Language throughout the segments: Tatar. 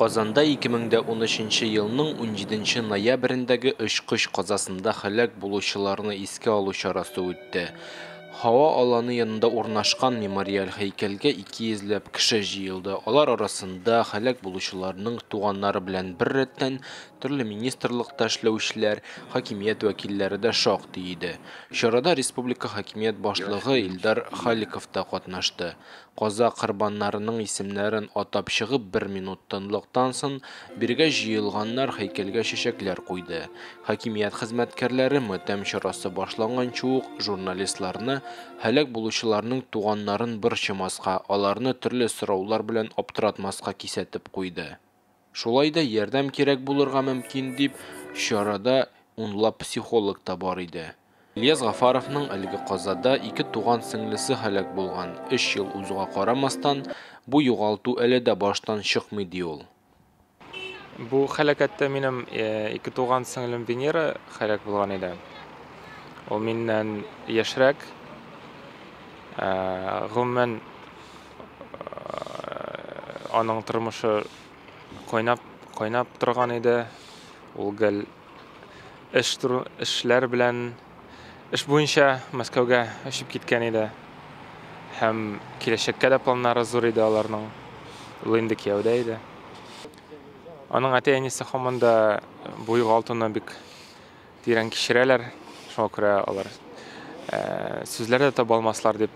Казанда 2013 нче елның унҗиденче ноябрендәге очкыч казасында һәлак булучыларны искә алу чарасы үтте. Һава аланы янында урнашкан мемориаль һәйкәлгә ике йөзләп кеше җыелды. Алар арасында, һәлак булучыларның туганнары белән беррәттән, төрле министрлыкта эшләүчеләр, хакимият вәкилләре дә шактый иде. Чарада республика хакимият башлыгы Илдар Халиков та катнашты. Каза корбаннарының исемнәрен атап чыгып бер минут тынлыктан сон биргә җыелганнар һәйкәлгә чәчәкләр куйды. Хакимият хезмәткәрләре матәм чарасы башланганчы ук журналистларны, һәлак булучыларның туганнарын борчымаска, аларны төрле сораулар белән аптыратмаска кисәтеп куйды. Шулай да ярдәм кирәк булырга мөмкин, дип, чарада унлап психолог та бар иде. Ильяс Гафаровның әлеге казада ике туган сеңлесе һәлак булган. Өч ел узуга карамастан, бу югалту әле дә баштан чыкмый, ди ул. Бу һәлакәттә минем ике туган сеңлем Венера һәлак булган иде. Ул миннән яшьрәк. Гомумән, Аның тормышы кайнап, кайнап торган иде. Ул гел эш туры, эшләр белән эш буенча Мәскәүгә очып киткән иде. Һәм киләчәккә дә планнары зур иде аларның. Ул инде кияүдә иде. Аның әти-әнисе һаман да буйга алтыны бик Тирән кичерәләр, шуңа күрә алар сүзләр дә таба алмаслар дип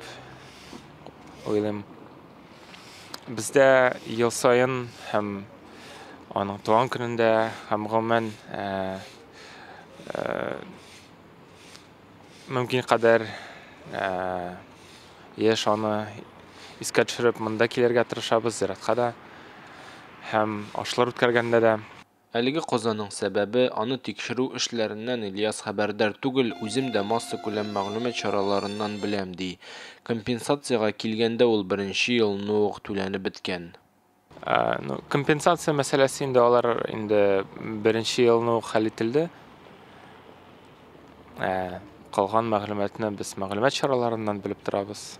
уйлыйм. Бездә ел саен һәм аның туган көнендә һәм гомумән мөмкин кадәр еш аны искә төшереп монда килергә тырышабыз, зиратка да һәм ашлар үткәргәндә дә. Әлеге казаның сәбәбе, аны тикшерү эшләреннән Ильяс хәбәрдар түгел, үзем дә массакүләм мәгълүмат чараларыннан беләм, ди. Компенсациягә килгәндә, ул беренче елны ук түләнеп беткән. Ну, компенсация мәсьәләсе инде алар инде беренче елны ук хәл ителде. Ә калган мәгълүматны без мәгълүмат чараларыннан белеп торабыз.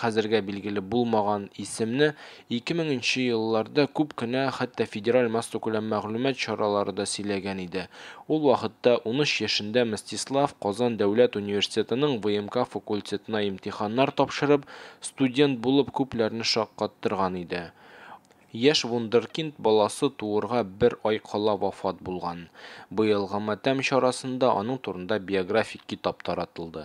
хәзергә билгеле булмаган исемне 2000 нче елларда күп кенә хәтта федераль массакүләм мәгълүмат чаралары да сөйләгән иде. Ул вакытта, 13 яшендә Мстислав Казан дәүләт университетының ВМК факультетына имтиханнар тапшырып, студент булып күпләрне шаккаттырган иде. Яшь вундеркинд баласы туырга бер ай кала вафат булган. Быелгы матәм чарасында аның турында биографик китап таратылды.